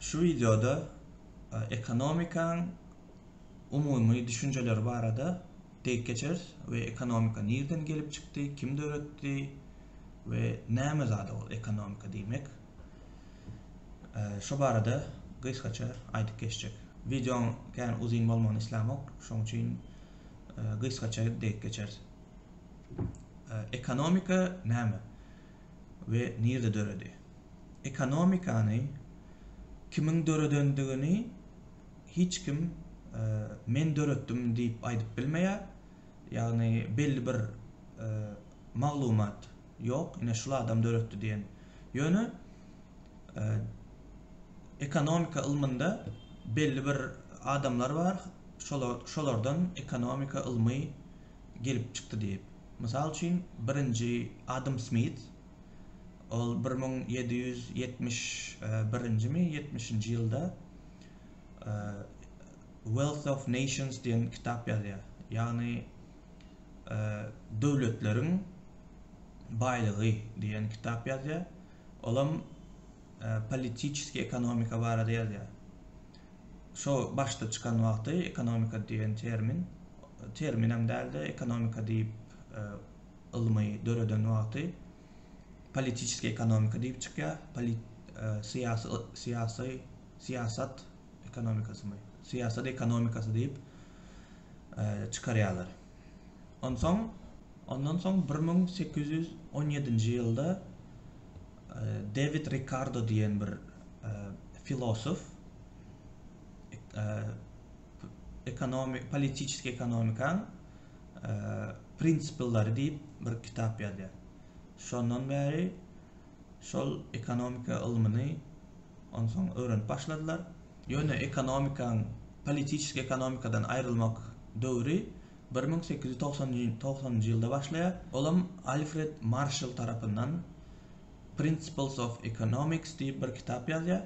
Şu wideoda ekonomikaň umumy düşünjeleri barada dek geçeris we ekonomika nirden gelip çykdy, kim döretdi we näme zada ol ekonomika diýmek şu barada gysgaça aýdyp geçjek. Wideoň kän uzyn bolmagyny islämok, şoň üçin gysgaça dek geçeris. Ekonomika näme? we nirde döredi? Ekonomikany kimiň döredendigini hiç kim men döretdim diýip aýdyp bilmeýär. Ýagny belli bir maglumat ýok, ine şul adam döretdi diýen. Ýöne ekonomika ylmynda belli bir adamlar bar, şolardan ekonomika ylmy gelip çykdy diýip. Mysal üçin, birinji Adam Smit, ol bir müň ýedi ýüz ýetmiş birinjimi, ýetmişinji ýylda Wealth of Nations diýen kitap ýazýar. Ýagny Döwletleriň baýlygy diýen kitap ýazýar. Olam politiçeskiý ekonomika barada ýazýar. Şo başda çykan wagty ekonomika diýen termin, terminem däldi, ekonomika diýip ylmy döreden wagty politiçeskiý ekonomika diýip çykýar, polit syýasy syýasy syýasat ekonomikasymy, syýasat ekonomikasy diýip çykarýarlar. Onsoň, ondan soň bir müň sekiz ýüz on ýedinji ýylda Dewid Rikardo diýen bir filosof ekonomik politiçeski ekonomikaň prinsipleri diýip bir kitap ýazýar. Şondan bäri Şol ekonomika ylmyny onsoň öwrenip başladylar. Ýöne ekonomikaň politiçeski ekonomikadan aýrylmak döwri bir müň sekiz ýüz togsan njy ýylda başlaýar. Olam Alfred Marşall tarapyndan Principles of Economics diýip bir kitap ýazýar.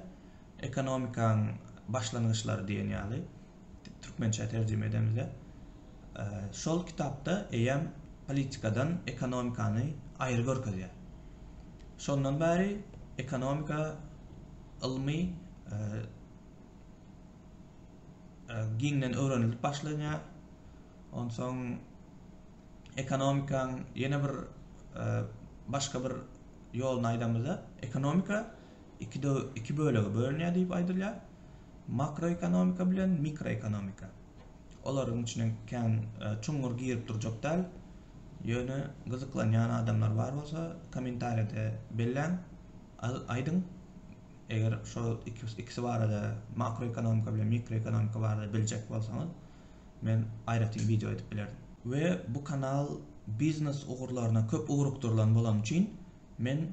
Ekonomikaň başlangyçlary diýen ýaly. türkmençä terjime edemizde şol kitapda eýýäm politikadan ekonomikany aýry görkezýär. Şondan bäri ekonomika ylmy e, e, giňden öwrenilip başlanýar. Onsoň ekonomikaň ýene bir e, başga bir ýoluny aýdamyzda, ekonomika iki bölege bölünýär diýip aýdylýar. Makroekonomika bilen mikroekonomika. Olaryň içine kän e, çuňňur girip durjak däl. Ýöne gyzyklanýan adamlar bar bolsa, kommentariýada belläň, aýdyň. Eger şol ikisi barada, makroekonomika bilen mikroekonomika barada biljek bolsaňyz, men aýratyn wideo edip bilerin. We bu kanal biznes ugurlaryna köp ugrukdyrylan bolany üçin men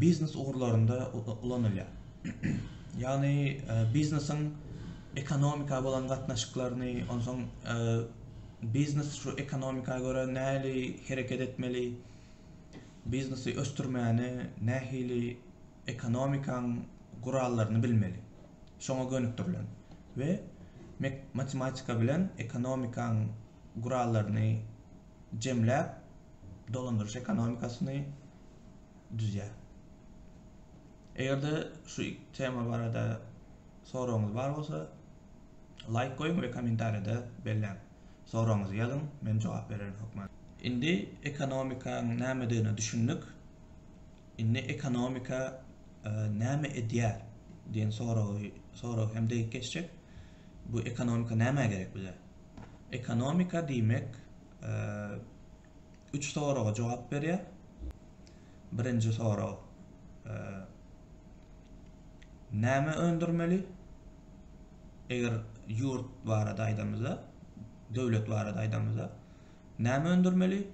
biznes ugurlarynda ulanylýar. Ýagny biznesiň ekonomika bolan gatnaşyklaryny, onsoň biznes şu ekonomika görä nähili hereket etmeli, biznesi ösdürmäne nähili ekonomikaň gurallaryny bilmeli, şoňa gönükdirilen we matematika bilen ekonomikaň gurallaryny jemläp, dolandyryş ekonomikasyny düzýär. Eger-de şu tema barada soragyňyz bar bolsa, laýk goýuň we kommentariýada belläň. Soragyňyzy ýazyň, men jogap bererin hökman. Indi ekonomikaň nämedigine düşündik. Indi ekonomika näme edýär diýen soragy hem degip geçjek. Bu ekonomika nämä gerek bize? Ekonomika diýmek üç soraga jogap berýär. Birinji sorag näme öndürmeli? Eger ýurt barada aýdamyzda, döwlet barada aýdamyzda näme öndürmeli?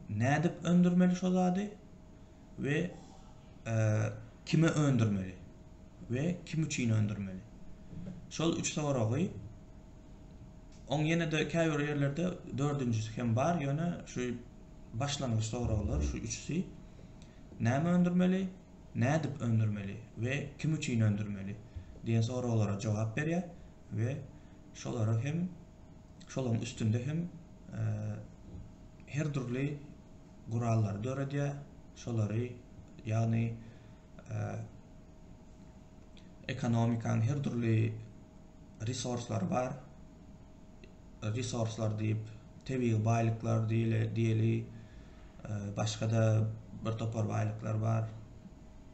Nädip öndürmeli şo zady? we kime öndürmeli we kim üçin öndürmeli? Şol üç soragy oň ýene-de käbir ýerlerde dördünjisi hem bar, ýöne şu başlangyç soraglar şu üçüsi näme öndürmeli, nädip öndürmeli we kim üçin öndürmeli diýen soraglara jogap berýär we şolara hem şolaryň üstünde hem her dürli gurallary döredýär, şolary, ýagny ekonomikanyň her dürli resurslary bar, resurslar diýip, tebigy baýlyklar diýeli, başga-da bir topar baýlyklar bar,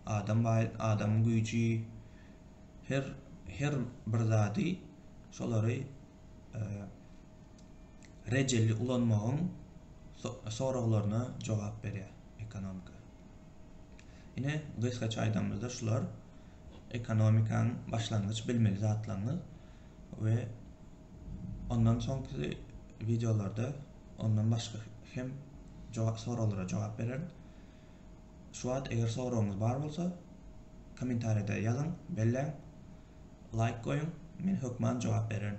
adam baý, adamyň güýji, her, her bir zady, şolary, rejeli ulanmagyň soraglaryna jogap berýär ekonomika ine gysgaça aýdamyzda şular ekonomikaň başlangyç bilmeli zatlaryny we ondan soňky wideolarda ondan başga hem jogap soraglara jogap bererin şu wagt eger soragyňyz bar bolsa kommentariýada ýazyň belläň laýk goýuň men hökman jogap bererin.